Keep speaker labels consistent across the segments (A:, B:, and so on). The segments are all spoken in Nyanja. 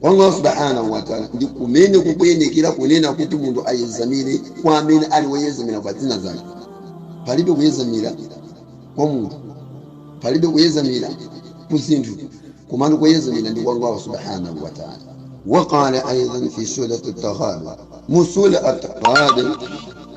A: kwa allah subhanahu wataala ndi kumene kukuyenekera kunena kuti munthu ayezamire kwa amene ali woyezamira pa zina zake palibe kuyezamira kwa munthu palibe kuyezamira ku zinthu komano kuyezamira ndi kwa allah subhanahu wataala waqala aidan fi surati taghabun mu sura ataghabun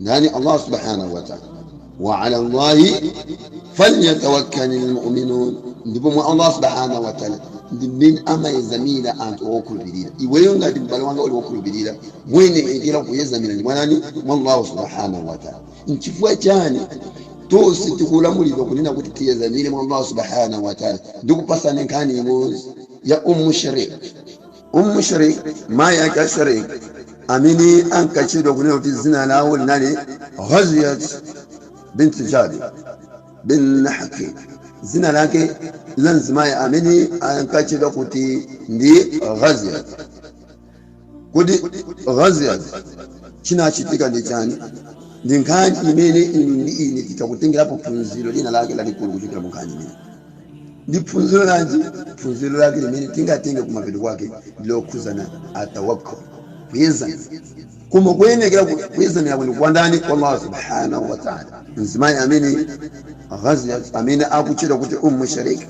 A: ndani? Allah subhanahu wa ta'ala. Wa ala Allahi falyatawakkalil mu'minun, ndipo mwa Allah subhanahu wa ta'ala ndi mmene amayezamira anthu okhulupirira. Iweyo ngati m'bale wanga uli wokhulupirira, muyenekera kuyezamira ndi mwa ndani? Mwa Allah subhanahu wa ta'ala. Nchifukwa chani tonse tikulamulidwa kunena kuti tiyezamire mwa Allah subhanahu wa ta'ala? Ndikupasani nkhani imodzi ya Ummu Sharik. Ummu Sharik, mayi ake a Sharik, amene ankatchedwa kunena kuti dzina lawo linali Ghaziyat bint Jabir bin Hakim, dzina lake la mzimayi amene ankatchedwa kuti ndi Ghaziyat. Kodi Ghaziyat chinachitika ndi chani? Ndi nkhani imene inu ndi ine titha kutengerapo phunziro lina lake lalikulu kuchokera mu nkhani imeneyi. ndi phunziro lanji phunziro lake limene tingatenge kumapeto kwake ndi lokhuzana attawakkul kuyezama koma kuyenekera kuyezamirako ndi kwa ndani kwa allah subhanahu wa taala mzimayi amene ghaziyat amene akutchedwa kuti ummu sharik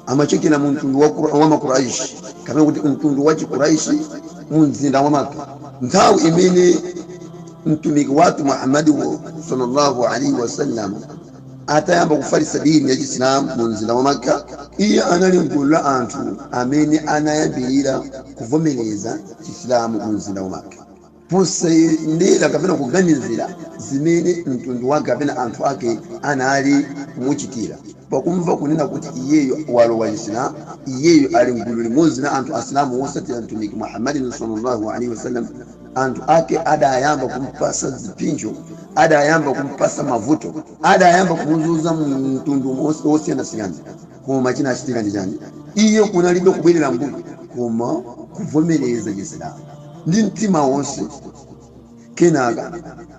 A: amachokera mu mtundu wa, Qur- wa makuraishi kapena kuti mtundu wa chikuraishi mu mzinda wa maka nthawi imene mtumiki wathu muhammadiwo sallallahu alaihi wasallam atayamba kufalitsa dini ya chisilamu mu mzinda wa makka iye anali mgulu la anthu amene anayambirira kuvomereza chisilamu mu mzinda wa makka posayang'anira kapena kuganizira zimene mtundu wake kapena anthu ake anali kumuchitira pakumva kunena kuti iyeyo walowa chisilamu iyeyo ali mgulu limodzi ndi anthu asilamu wosatira mtumiki muhammadin sallallahu alaihi wasallam anthu ake adayamba kumpasa zipsinjo adayamba kumpasa mavuto adayamba kumuzunza mu mtundu wosiyanasiyana koma chinachitika ndi chani iye kunalibe kubwerera mbuyo koma kuvomereza chisilamu ndi mtima wonse kenaka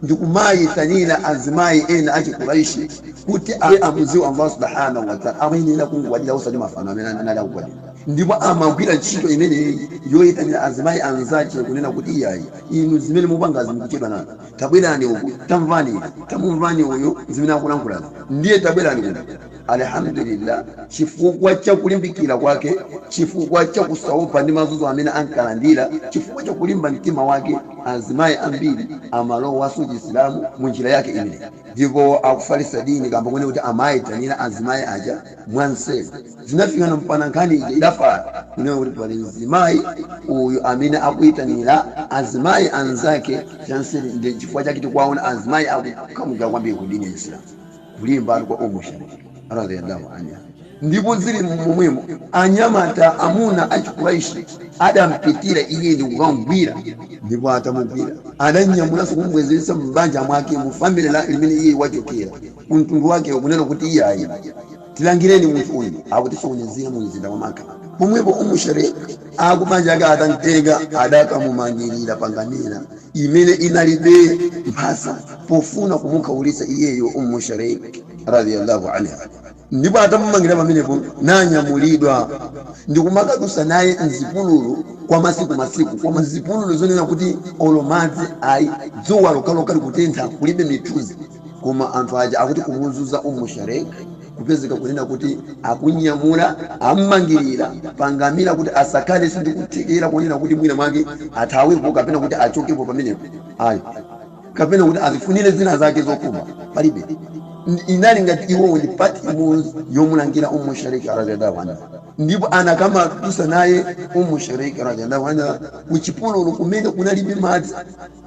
A: ndikumayitanira azimayi ena achikuraishi kuti amudziwe allah subhanahu wataala amayenera kungwadira osati mafano amene anali kugwadira ndipo amagwira ntchito imeneyi yoyitanira azimayi anzake kunena kuti iyayi inu zimene mupangazi mukuchedwa nazo tabwerani uku tamvani izi tamumvani uyu zimene akulankhulazi ndiye tabwerani kuno Alhamdulillah chifukwa cha kulimbikira kwake chifukwa cha kusaopa ndi mazuzo amene ankalandira chifukwa cha kulimba mtima wake azimayi ambiri amalowaso chisilamu munjira yake imeneyi ndipo akufalisa dini kamba konena kuti amayitanira azimayi aja mwanseri zinafikana mpana nkhani ija idafala kunena kuti pali mzimayi uyu amene akuyitanira azimayi anzake chanseri ndi chifukwa chake tikuwaona azimayi akukamukira kwambiri ku dini ya Islamu kulimbatu kwa umu sharik radiyallahu anha ndipo zili momwemo anyamata amuna achikuraishi adampitira iye ndi kukamgwira ndipo atamugwira adamnyamulanso kumubwezeretsa m'banja mwake mu family la limene iye wachokera ku mtundu wake kunena kuti iyayi tilangireni munthu uyu akutisokonezera mu mzinda wa Makka pomwepo umu sharik akubanja ake atamtenga adakamumangirira pa ngamira imene inalibe mphasa pofuna kumukhaulitsa iyeyo umu sharik radiyallahu anha ndipo atamumangira pamenepo nanyamulidwa ndikumakadusa naye mzipululu kwa masiku masiku koma mzipululu zonena kuti olo madzi ayi dzuwa lokhalokha likutentha kulibe mithunzi Koma anthu aja akuti kumuzuza Ummu Shareek kupezeka kunena kuti amunyamula, ammangilira, pa ngamira kuti asakhalenso ndi kuthekera kunena kuti mwina mwake athawepo kapena kuti achokepo pamenepo ayi kapena kuti azifunire zina zake zokhumba palibe inali ngati iwowo ndi part imodzi yomulangira Ummu Shareek radiyallahu anha ndipo anakamadusa naye Ummu Shareek radiyallahu anha ku chipululu kumene kunalibe madzi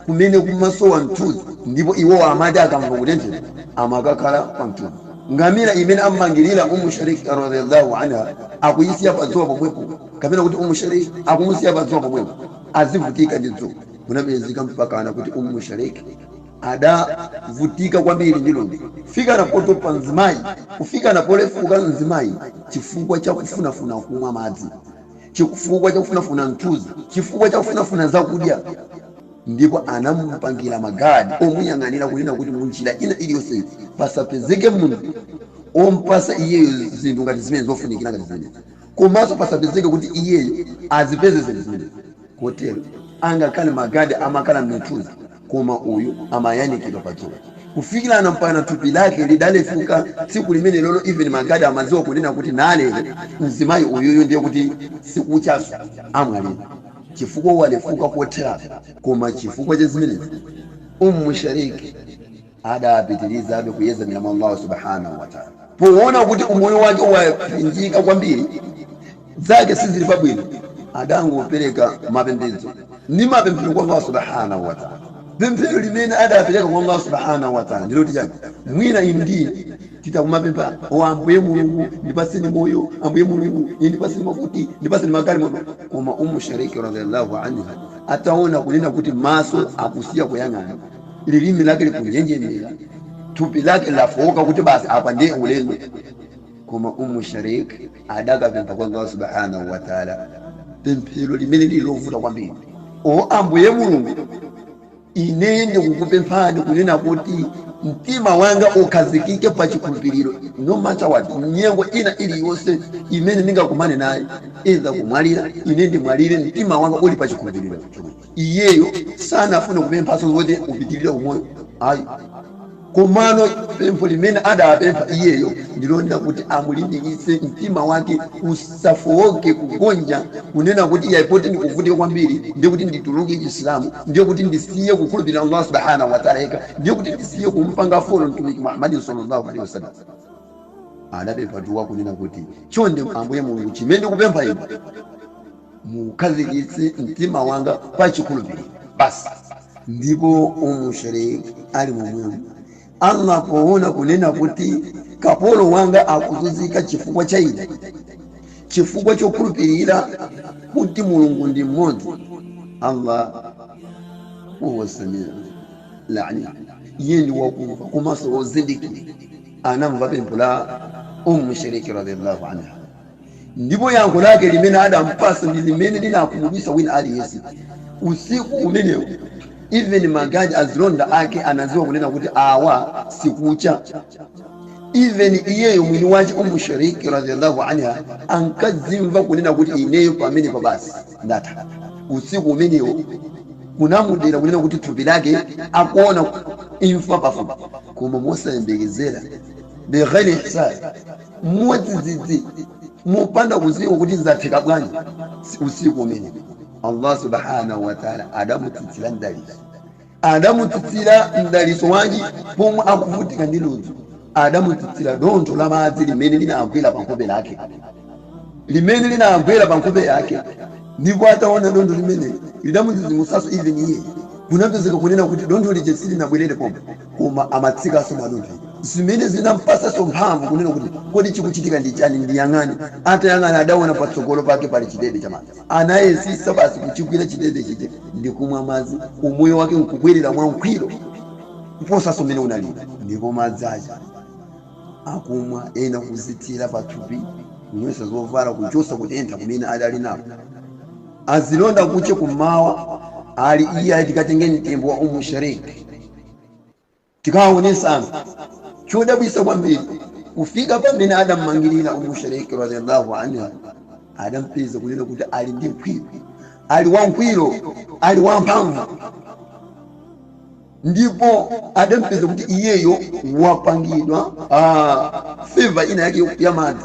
A: kumene kumasowa mthunzi ndipo iwowa amati akamva kutenthedwa amakakhala pa mthunzi. Ngamira imene am'mangirira Umm Sharik radiyallâhu anha akuyisiya pa dzuwa pomwepo kapena kuti Umm Sharik akumusiya pa dzuwa pomwepo azivutika ndi dzuwa. Kunapezeka mpakana kuti Umm Sharik adavutika kwambiri ndi ludzu, kufikana potopa mzimayi, kufikana polefuka mzimayi chifukwa cha kufunafuna kumwa madzi. chifukwa chakufunafuna mthunzi, chifukwa chakufunafuna zakudya, ndipo anamupangira magadi omuyang'anira kunena kuti mu njira ina iliyonse pasapezeke munthu ompasa iyeyo zinthu ngati zimene zofunikira ngati zimene, komanso pasapezeke kuti iyeyo azipeze zinthu zimenezi. Kotero, angakhale magadi amakhala m'mithunzi, koma uyu amayanikidwa pa dzuwa. Kufikirana mpana thupi lake lidalefuka tsiku limenelolo even magadi amadziwa kunena kuti naa lero mzimayi uyuyu ndiye kuti sikuchaso, amwalira. Chifukwa walefuka kotheratu. Koma chifukwa cha zimenezi, Umm Sharik. adapitirizabe kuyedzamira mwa Allahu Subhaanahu wa Ta'aala. Poona kuti umoyo wake wapinjika kwambiri, zake sizili pabwino, adangopereka mapembedzo ndi mapemphero kwa Allahu Subhaanahu wa Ta'aala. Pemphero limene adapereka kwa Allahu Subhaanahu wa Ta'aala ndi loti chani? Mwina inu ndi ine titha kumapempha kuti, O Ambuye Mulungu, ndipatseni moyo, Ambuye Mulungu, ine ndipatseni makuti, ndipatseni magalimoto. Koma Ummu Sharik, Radhiyallahu Anha, ataona kunena kuti maso akusiya kuyang'ana, lilimi lake likunjenjemera thupi lake lafowoka kuti basi apa ndiye ulendo koma umm sharik adakapempha kwa allah subhanahu wataala pemphero limene lili lovuta kwambiri o ambuye mulungu ineyi ndikukupemphani kunena kuti mtima wanga ukhazikike pa chikhulupiriro no matter what nyengo ina iliyonse imene ndingakumane nayo idza kumwalira ine ndimwalire mtima wanga uli pa chikhulupiriro chomwecho Iyeyo sanafune kupemphanso zoti upitirire umoyo ayi, komano pempho limene adapempha iyeyo ndi lonena kuti amulimbikitse mtima wake usafooke, kugonja, kunena kuti iyayi poti ndikuvutika kwambiri ndiye kuti ndituluke Chisilamu, ndiye kuti ndisiye kukhulupirira Allah Subhaanah wa Ta'la yekha, ndiye kuti ndisiye kumpanga follow Mtumiki Muhammad Sallallahu Alayhi Wasallam. Adapempha dua kunena kuti, Chonde Ambuye Mulungu chimene ndikupempha Inu, Mukhazikitse mtima wanga pa chikhulupiliro basi. Ndipo Umm Sharik ali momwemo, Allah poona kunena kuti kapolo wanga akuzunzika chifukwa cha ine, chifukwa chokhulupilira kuti Mulungu ndi mmodzi, Allah Huwa Sami'ul Alim, Iye ndi wakumva komanso wozindikira, anamva pempho la Umm Sharik radiyallahu anha. Ndipo yankho lake limene adampatsa ndi limene linamudabwitsa wina aliyense usiku umenewo, even maguard azilonda ake anadziwa kunena kuti awa sikucha, even iyeyo mwini wache Umm Shariik radiyallahu anha ankadzimva kunena kuti ineyo pamenepa basi ndatha. Usiku umenewo kunamudera kunena kuti thupi lake akuona imfa pafupi, koma mosayembekezera, bighayri hisab, mwadzidzidzi mopanda kudziwa kuti zatheka bwanji usiku umene allah subhanahu wataala adamutsitsira mdaliso adamutsitsira mdaliso wanji pomwe akuvutika ndi ludzu adamutsitsira dontho la madzi limene linagwera pa nkhope lake limene linagwera pa nkhope lake ndipo ataona dontho limene lidamudzidzimutsanso even iye kunapezeka kunena kuti dontho lija silinabwerere pomwe koma amatsikanso madontho zimene zinampatsanso mphamvu kunena kuti, kodi chikuchitika ndi chani? Ndiyang'ane. Atayang'ana adaona patsogolo pake pali chidebe cha madzi. Anayesitsa basi kuchigwira chidebe chija ndi kumwa madzi, umoyo wake nkubwerera mwangwiro kuposanso mmene unalili. Ndipo madzi aja akumwa, ena kuzithira pa thupi, kunyowetsa zovala, kuchotsa kutentha kumene adali nako. Azilonda kuche kummawa, Ali iyayi tikatenge mtembo wa Umm Sharik. tikawaonesana chodabwisa kwambiri kufika pamene adammangirira Ummu Shariki radhiallahu anha adampeza kunena kuti ali ndi ngwiro ali wangwiro ali wamphamvu ndipo adampeza kuti iyeyo wapangidwa ah, favor ina yake ya madzi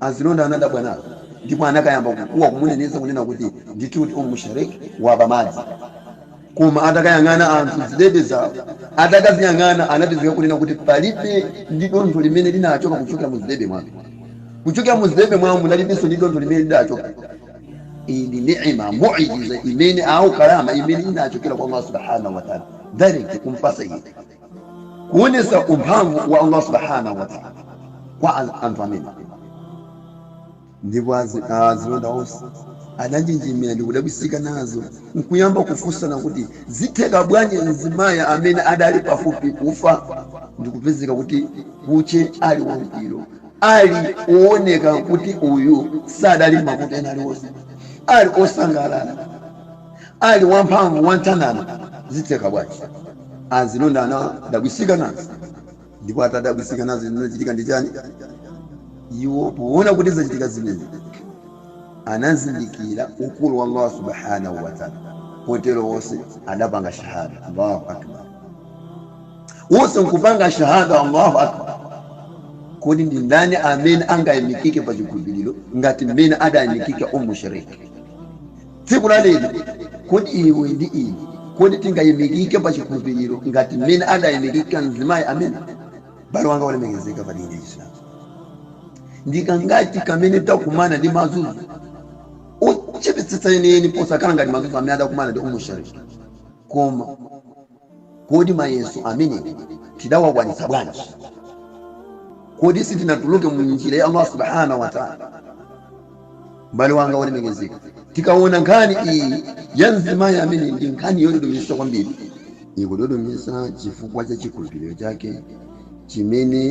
A: Azilonda anadabwa nazo ndipo anakayamba kukuwa kumuneneza kunena kuti ndithudi Umm Sharik waba madzi. Koma atakayang'ana anthu m'zidebe zawo, atakaziyang'ana anapezeka kunena kuti palibe ndi dontho limene linachoka kuchokera mu zidebe mwake. Kuchokera mu zidebe mwawo munalibenso ndi dontho limene lidachoka. Iyi ndi ni'ima, mu'ijiza imene, au karama imene inachokera kwa Allah Subhanahu wa Ta'ala direct kum'patsa iye. kuonesa umphamvu wa Allah Subhanahu wa Ta'ala kwa an- anthu amene ndipo azi- azilonda onse adanjenjemera ndi kudabwisika nazo nkuyamba kufunsana kuti zitheka bwanji mzimayi amene adali pafupi kufa ndi kupezeka kuti kuche ali wangwiro ali wooneka kuti uyu sadali mavuto ena aliwonse ali osangalala Ali wamphamvu wanthanzi zitheka bwanji? Azilonda anadabwisika nazo ndipo atadabwisika nazo zinachitika ndi chani? Iwo powona kuti zachitika zimene anazindikira ukulu wa Allah Subhanahu wa Ta'ala kotero wose adapanga shahada Allahu Akbar. Wose nkupanga shahada Allahu Akbar. Kodi ndi ndani amene angayimikike pa chikhulupiliro ngati mmene adayimikika Ummu Sharik? Tsiku la lero, kodi iwe ndi ine, kodi tingaimikike pa chikhulupiriro ngati mmene adaimikika mzimayi amene? M'bale wanga wolemekezeka pa dini ya Chisilamu, ndi kangati kamene takumana ndi mazunzo ochepetsetsa enieni posakhala ngati mazunzo amene adakumana ndi Ummu Shariki? Koma Kodi mayeso amene tidawakwanitsa bwanji? Kodi sitinatuluke mu njira ya Allah Subhanahu wa Ta'ala? M'bale wanga wolemekezeka, tikaona nkhani iyi ya mzimayi amene ndi nkhani yododometsa kwambiri, ikudodometsa chifukwa cha chikhulupiliro chake chimene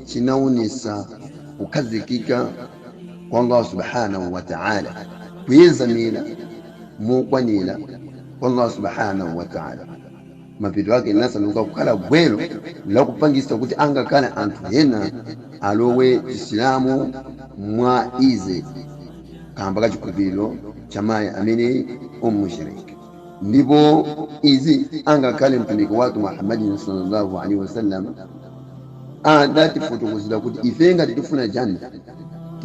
A: chinaonetsa kukhazikika kwa Allah Subhanahu wa Ta'ala, kuyezamira mokwanira, kwa Allah subhanahu wa ta'ala mapeto ake linasanduka kukhala gwero la kupangisa kuti angakhale anthu ena alowe chisilamu mwa ize kamba ka chikhulupiriro cha mayi amene Ummu Shariki ndipo izi angakhale mtumiki wathu muhammadin sallallahu alaihi wasallam adatifotokozera kuti ife ngati tifuna janna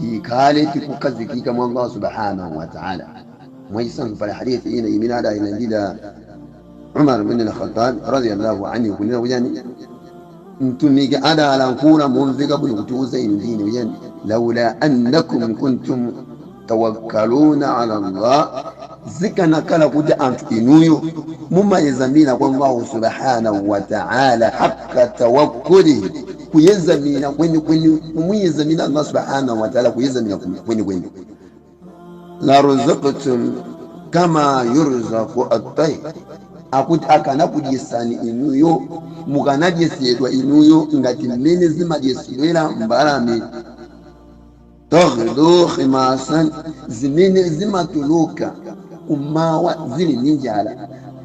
A: tikhale tikukhazikika mwa Allah subhanahu wa ta'ala Mwachitsanzo pali hadith ina imene adailandira Umar bin al-Khattab radhiyallahu anhu kunena kuti yani Mtumiki adalankhula momveka bwino kutiuza inu ndi ine kuti yani laula annakum kuntum tawakkaluna ala Allah zikanakhala kuti anthu inuyo mumayezamira kwa Allahu subhanahu wa ta'ala hakka tawakkulihi kuyezamira kwenikweni mumuyezamira Allah subhanahu wa ta'ala kuyezamira kwenikweni la ruzaqtum kama yurzaqu at-tayr akuti akanakudyesani inuyo mukanadyesedwa inuyo ngati mmene zimadyesedwera mbalame taghdu khimasan zimene zimatuluka kumawa zili ndi njala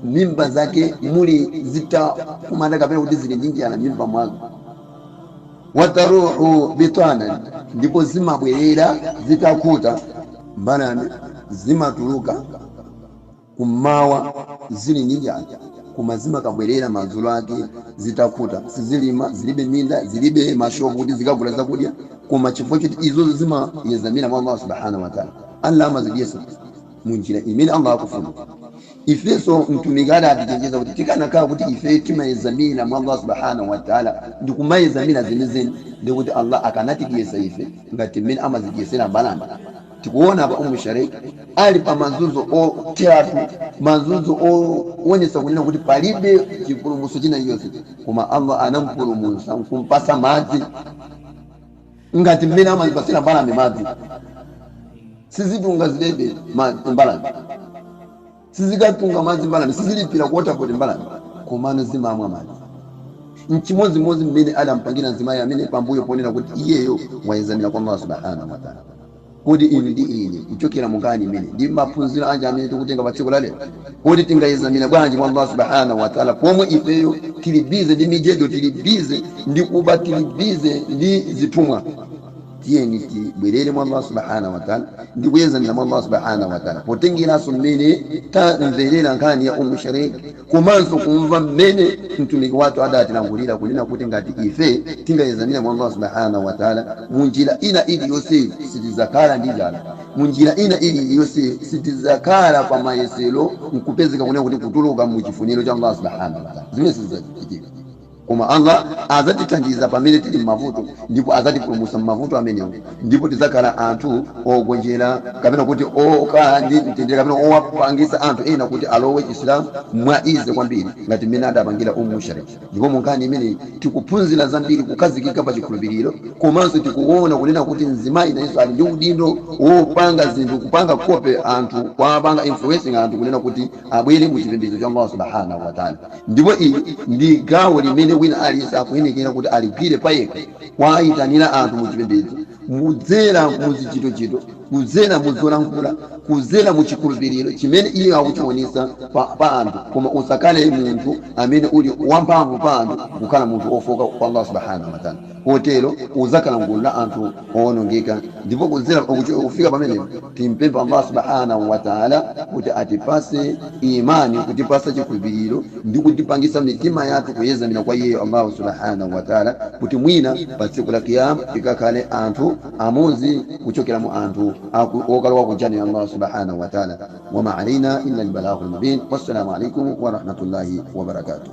A: mimba zake muli zitakumanda kapena kuti zili ndi njala m'mimba mwake wataruhu bitanan ndipo zimabwerera zitakhuta mbalame zimatuluka kummawa zili ndi njala koma zimakabwerera madzulo ake zitakhuta sizilima zilibe minda zilibe mashopu kuti zikagula zakudya koma chifukwa choti izozo zimayezamira mwa allah subhanahu wataala allah amazidyesa mu njira imene allah akufuna Ifenso Mtumiki adatichenjeza kuti tikanakhala kuti ifeyo timayezamira mwa Allah Subhaanah wa Ta'ala ndi kumayezamira zenizeni ndiye kuti Allah akanatidyetsa ife ngati mmene amazidyetsera mbalame. Tikuona apa Umm Sharik ali pa mazunzo otheratu, mazunzo owonetsa kunena kuti palibe chipulumutso china chonse koma Allah anamupulumutsa nkumpatsa madzi. ngati mmene amazipatsira mbalame madzi. Sizitunga zidebe madzi mbalame. Sizikatunga madzi mbalame. Sizilipira ku waterboard mbalame. Komano zimamwa madzi. N'chimodzimodzi mmene adampangira mzimayi ameneyu pambuyo ponena kuti iyeyo wayezamira kwa Allah Subhaanah wa Ta'la. Kodi inu ndi ine, kuchokera mu nkhani imeneyi, ndi maphunziro anji amene tikutenga pa tsiku la lero? Kodi tingayezamire bwanji mwa Allah Subhaanah wa Ta'la pomwe ifeyo tili busy ndi mijedo, tili busy ndi kuba, tili busy ndi zithumwa? Tiyeni tibwerere mwa Allah Subhaanah wa Ta'la ndi kuyezamira mwa Allah Subhaanah wa Ta'la potengeranso mmene tamverera nkhani ya Umm Sharik, komanso kumva mmene Mtumiki wathu adatilankhulira kunena kuti ngati ife tingayezamire mwa Allah Subhaanah wa Ta'ala mu njira ina iliyonse sitidzakhala ndi njala, mu njira ina iliyonse sitidzakhala pa mayesero nkupezeka kunena kuti kutuluka mu chifuniro cha Allah Subhaanah wa Ta'ala. Zimenezi sizidzachitika. Koma Allah adzatithandiza pamene tili m'mavuto ndipo adzatipulumutsa m'mavuto amenewo ndipo tidzakhala anthu ogonjera kapena kuti okhala ndi mtendere kapena owapangitsa anthu ena kuti alowe Chisilamu mwa easy kwambiri ngati mmene adapangira Ummu Sharik. Ndipo mu nkhani imeneyi tikuphunzira zambiri kukhazikika pa chikhulupiliro komanso tikuona kunena kuti mzimai nayenso ali ndi udindo wopanga zinthu kupanga copy anthu kuwapanga influencing anthu kunena kuti abwere mu chipembedzo cha Allah Subhaanahu wa Ta'ala. Ndipo ili ndi gawo limene wina aliyense akuyenekera kuti aligwire payekha, kuwaitanira anthu mu chipembedzo, kudzera mu zichitochito, kudzera mu zolankhula, kudzera mu chikhulupiriro chimene iye akuchiwonetsa pa anthu, koma usakhale munthu amene uli wamphamvu pa anthu kukhala munthu wofooka kwa Allah Subhaanahu wa Ta'ala. Kotero udzakhala m'gulu la anthu owonongeka. Ndipo kudzera kufika pamenepo timpempha Allah Subhaanahu wa Ta'ala kuti atipatse imaani, kutipatsa chikhulupiriro ndi kutipangitsa mitima yathu kuyedzamira kwa Iye Allah Subhaanahu wa Ta'ala kuti mwina pa tsiku la Qiyaamah tikakhale anthu amodzi kuchokera mu anthu okalowa ku Jannah ya Allah Subhaanahu wa Ta'ala. Wa maa alaina illa al-balaagul mubiin. Wassalaamu alaikum warahmatullahi wabarakatuh.